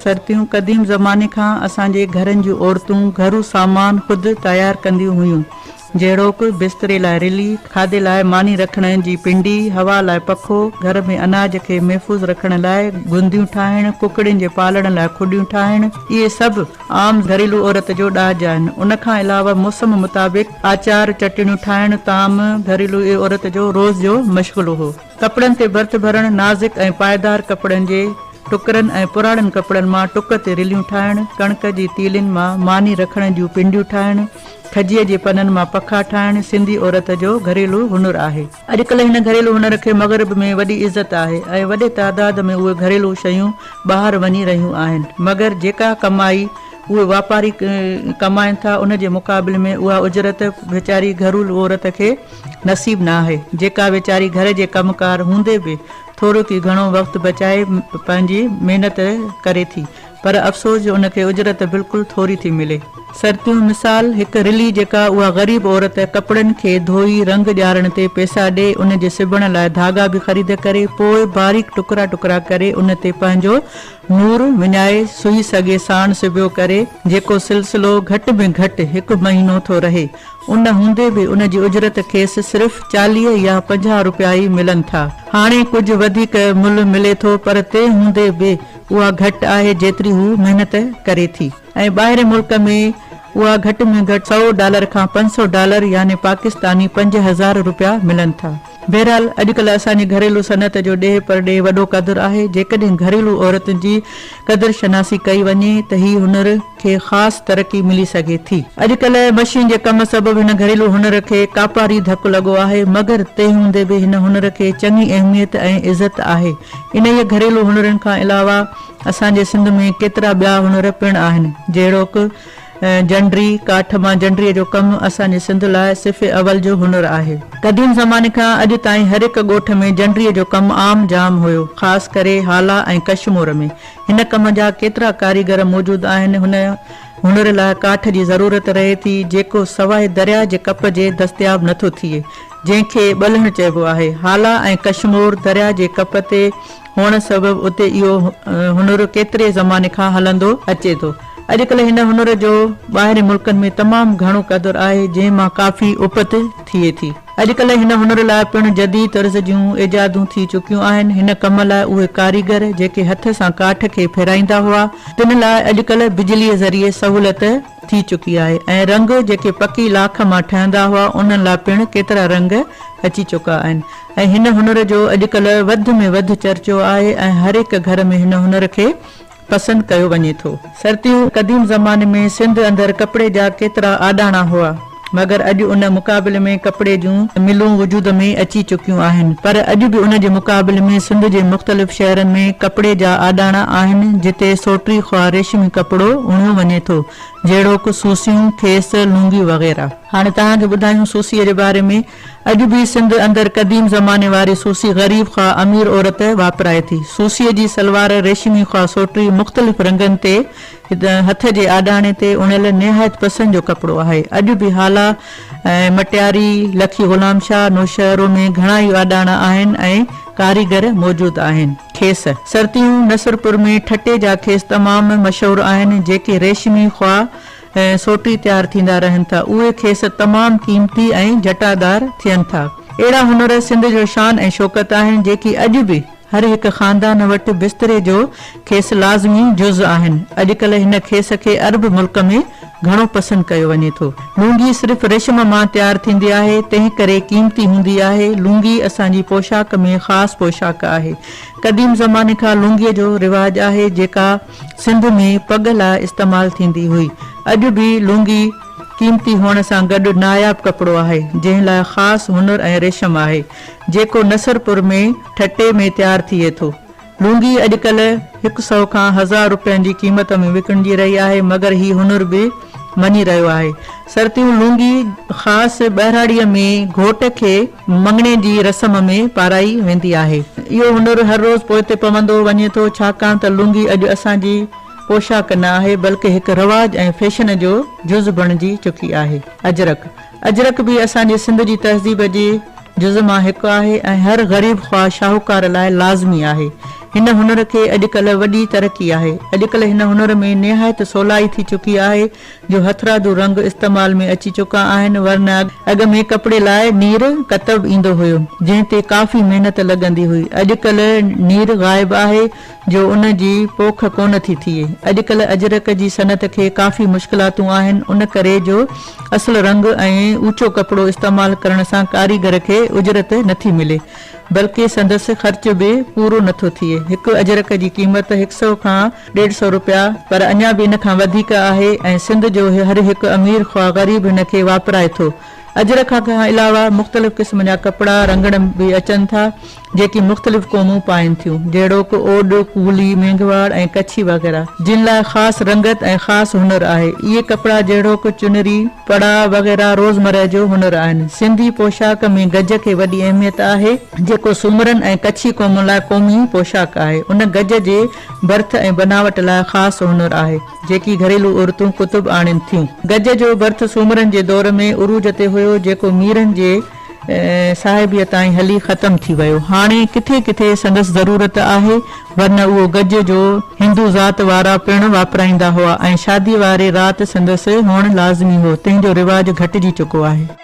سرتيون، قديم زماني کان اسان جي گهرن جون عورتون گهرو سامان خود تيار ڪنديون هيون، جهڙوڪ، بستري لاء رلي، کاڌي لاء ماني رکڻ جي پنڊي، هوا لاء پکو، گهر ۾ اناج کي محفوظ رکڻ لاء گنديون ٺاهڻ، ڪڪڙين جي پالڻ لاء کڏيون ٺاهڻ، اهي سڀ. عام گهريلو عورت جو ڏاج آهن. ان کان علاوه موسم مطابق آچار، چٽڻيون ٺاهڻ، طعام، گهريلو اهي عورت جو روز جو مشغلو هو. ڪپڙن تي ڀرت ڀرڻ، نازڪ ۽ پائيدار ڪپڙن جي ٽڪرن ۽ پراڻن ڪپڙن مان ٽڪ تي رليون ٺاهڻ، ڪڻڪ جي تيلين مان ماني رکڻ جون پنڊيون ٺاهڻ، کجيء جي پنن مان پکا ٺاهڻ سنڌي عورت جو گهريلو هنر آهي. اڄڪلهه هن گهريلو هنر کي مغرب ۾ وڏي عزت آهي ۽ وڏي تعداد ۾ اهي گهريلو شيون ٻاهر وڃي رهيون آهن مگر جيڪا ڪمائي اهي واپاري ڪمائن ٿا ان جي مقابل ۾ اها اجرت ويچاري گهرول عورت کي نصيب ناهي جيڪا ويچاري گهر جي ڪم ڪار هوندي به ٿورو ڪي گهڻو وقت بچائي پنهنجي محنت ڪري ٿي پر افسوس جو ان کي اجرت بلڪل ٿوري ٿي ملي. سرتيون مثال، هڪ رلي جيڪا اها غريب عورت ڪپڙن کي ڌوئي رنگ ڄارڻ تي پئسا ڏئي ان جي سبڻ لاء ڌاڳا به خريد ڪري پوء باريڪ ٽڪرا ٽڪرا ڪري ان تي پنهنجو نور وڃائي سوئي سگهي ساڻ سبيو ڪري جيڪو سلسلو گهٽ ۾ گهٽ هڪ مهينو ٿو رهي ان هوندي به ان جي اجرت کيس صرف چاليهه يا پنجاهه روپيا ئي ملن ٿا هاڻي ڪجهه وڌيڪ ملهه ملي ٿو پر تنهن هوندي به اها گهٽ آهي جيتري هو محنت ڪري ٿي ۽ ٻاهرين ملڪ ۾ اها گهٽ ۾ گهٽ سؤ ڊالر کان پنج سؤ ڊالر يعني پاڪستاني پنج هزار روپيا ملن ٿا. بهرحال اڄڪلهه اسان جي گهريلو صنعت جو ڏيهه پرڏيهه وڏو قدر آهي جيڪڏهن گهريلو عورتن جي قدر شناسي ڪئي وڃي ته هي هنر، کي خاص ترقي ملي سگهي ٿي. اڄڪلهه مشين جي ڪم سبب هن گهريلو هنر کي ڪاپاري ڌڪ لڳو آهي، مگر تنهن هوندي به هن هنر کي چڱي اهميت ۽ عزت آهي. انهيء گهريلو هنرن کان علاوه اسان جي سنڌ ۾ ڪيترا ٻيا هنر پڻ آهن، جهڙوڪ، جنڊري، ڪاٺ مان جنڊريء جو ڪم اسان جي سنڌ لاء صف اول جو هنر آهي. قديم زماني کان اڄ تائين هر هڪ ڳوٺ ۾ جنڊريء جو ڪم عام جام هيو، خاص ڪري هالا ۽ ڪشمور ۾. هن ڪم جا ڪيترا ڪاريگر موجود آهن. هن هنر لاء ڪاٺ جي ضرورت رهي ٿي، جيڪو سواء درياء جي ڪپ جي دستياب نه ٿو ٿئي، جنهن کي ٻلهڻ چئبو آهي. هالا ۽ ڪشمور درياء جي ڪپ تي هئڻ سبب اتي اهو هنر ڪيتري زماني کان هلندو اچي ٿو. اڄڪلهه هن هنر جو ٻاهرين ملڪن ۾ تمام گهڻو قدر آهي، جنهن مان ڪافي اپت ٿئي ٿي. اڄڪلهه هن هنر لاء پڻ جديد طرز جون ايجادون ٿي چڪيون آهن. هن ڪم لاء اهي ڪاريگر جيڪي هٿ سان ڪاٺ کي ڦيرائيندا هئا، تن لاء اڄڪلهه بجليء ذريعي سهولت ٿي چڪي آهي ۽ رنگ جيڪي پڪي لاک مان ٺهندا هئا، انهن لاء پڻ ڪيترا رنگ اچي چڪا آهن ۽ هن هنر جو اڄڪلهه وڌ ۾ وڌ چرچو آهي ۽ هر هڪ گهر ۾ هن هنر کي پسند ڪيو وڃي ٿو. سرتيون قديم زماني ۾ سنڌ اندر ڪپڙي جا ڪيترا آڏاڻا هئا مگر اڄ ان مقابلي ۾ ڪپڙي جون ملون وجود ۾ اچي چڪيون آهن پر اڄ به ان جي مقابلي ۾ سنڌ جي مختلف شهرن ۾ ڪپڙي جا آڏاڻا آهن جتي سوٽري خواه ريشمي ڪپڙو اڻيو وڃي ٿو جهڙوڪ سوسيون، کيس، لونگيون وغيره. هاڻي توهان کي ٻڌايون سوسيء جي باري ۾. اڄ به سنڌ اندر قديم زماني واري سوسي غريب خواه امير عورت واپرائي ٿي. سوسيء جي سلوار ريشمي خواه سوٽري مختلف رنگن تي هٿ جي آڏاڻي تي اڻيل نهايت پسند جو ڪپڙو آهي. اڄ به هالا ۽ مٽياري، لکي غلام شاهه، نوشهرو ۾ گهڻا ئي آڏاڻا آهن ۽ ڪاريگر موجود آهن. کيس. سرتيون نصرپور ۾ ٺٽي جا کيس تمام مشهور آهن، جيڪي ريشمي خواه ۽ سوٽي تيار ٿيندا رهن ٿا، اهي کيس تمام قيمتي ۽ جٽادار ٿين ٿا. اهڙا هنر سنڌ جو شان ۽ شوڪت آهن، جيڪي اڄ به هر هڪ خاندان وٽ بستري جو کيس لازمي جز آهن. اڄڪلهه هن کيس کي عرب ملڪ ۾ گهڻو پسند ڪيو وڃي ٿو. لونگي صرف ريشم مان تيار ٿيندي آهي، تنهنڪري قيمتي هوندي آهي. لونگي اسان جي پوشاڪ ۾ خاص پوشاڪ آهي. قديم زماني کان لونگيء جو رواج آهي، جيڪا. سنڌ ۾ پڳ لاء استعمال ٿيندي هئي. اڄ به لونگي قيمتي هئڻ سان گڏ ناياب ڪپڙو آهي، جنهن لاء خاص هنر ۽ ريشم آهي، جيڪو نصرپور ۾ ٺٽي ۾ تيار ٿئي ٿو. لونگي اڄڪلهه هڪ سئو کان هزار روپين جي قيمت ۾ وڪڻجي رهي آهي، مگر هي هنر به مڃي رهيو آهي. سرتيون لونگي خاص ٻهراڙيء ۾ گهوٽ کي. مڱڻي جي رسم ۾ پارائي ويندي آهي. اهو هنر هر روز پوئتي پوندو وڃي ٿو، ڇاڪاڻ ته لونگي اڄ اسان جي پوشاڪ نه آهي، بلڪه هڪ رواج ۽ فيشن جو جز بڻجي چڪي آهي. اجرڪ، اجرڪ به اسان جي سنڌ جي تهذيب جي جز مان هڪ آهي ۽ هر غريب خواه شاهوڪار لاء لازمي آهي. هن هنر کي اڄڪلهه وڏي ترقي آهي. اڄڪلهه هن هنر ۾ نهايت سولائي ٿي چڪي آهي. جو هٿرادو رنگ استعمال ۾ اچي چڪا آهن ورنه اڳ ۾ ڪپڙي لاء نير ڪتب ايندو هيو جنهن تي ڪافي محنت لڳندي هئي اڄڪلهه نير غائب آهي جو ان جي پوک ڪونه ٿي ٿئي اڄڪلهه اجرڪ جي صنعت کي ڪافي مشڪلاتون آهن ان ڪري جو اصل رنگ ۽ اوچو ڪپڙو استعمال ڪرڻ سان ڪاريگر کي اجرت نٿي ملي بلڪه سندس خرچ به پورو نٿو ٿئي هڪ اجرڪ جي قيمت هڪ سئو کان ڏيڍ سئو روپيا پر اڃا به ان کان وڌيڪ آهي ۽ سنڌ جو هر هڪ امير خواه غريب هن کي واپرائي ٿو. اجر کان علاوه مختلف قسم جا ڪپڙا رنگڻ به اچن ٿا جيڪي مختلف قومون پائين ٿيون جهڙوڪ اوڏ، ڪولي، مينگهواڙ ۽ ڪڇي وغيره. جن لاء خاص رنگت ۽ خاص هنر آهي. اهي ڪپڙا جهڙوڪ چنري، پڙا وغيره روزمره جو هنر آهن. سنڌي پوشاڪ ۾ گج کي وڏي اهميت آهي. جيڪو سومرن ۽ ڪڇي قومن لاء قومي پوشاڪ آهي. ان گج جي برٿ ۽ بناوٽ لاء خاص هنر آهي، جيڪي گهريلو عورتون ڪتب آڻين ٿيون. گج جو برٿ سومرن جي دور ۾ عروج تي هيو، جيڪو ميرن جي صاحبيء تائين هلي ختم ٿي ويو. هاڻي ڪٿي ڪٿي سندس ضرورت آهي، ورنه اهو گج جو هندو ذات وارا پڻ واپرائيندا هئا ۽ شاديء واري رات سندس هئڻ لازمي هو، تنهن جو رواج گهٽجي چڪو آهي.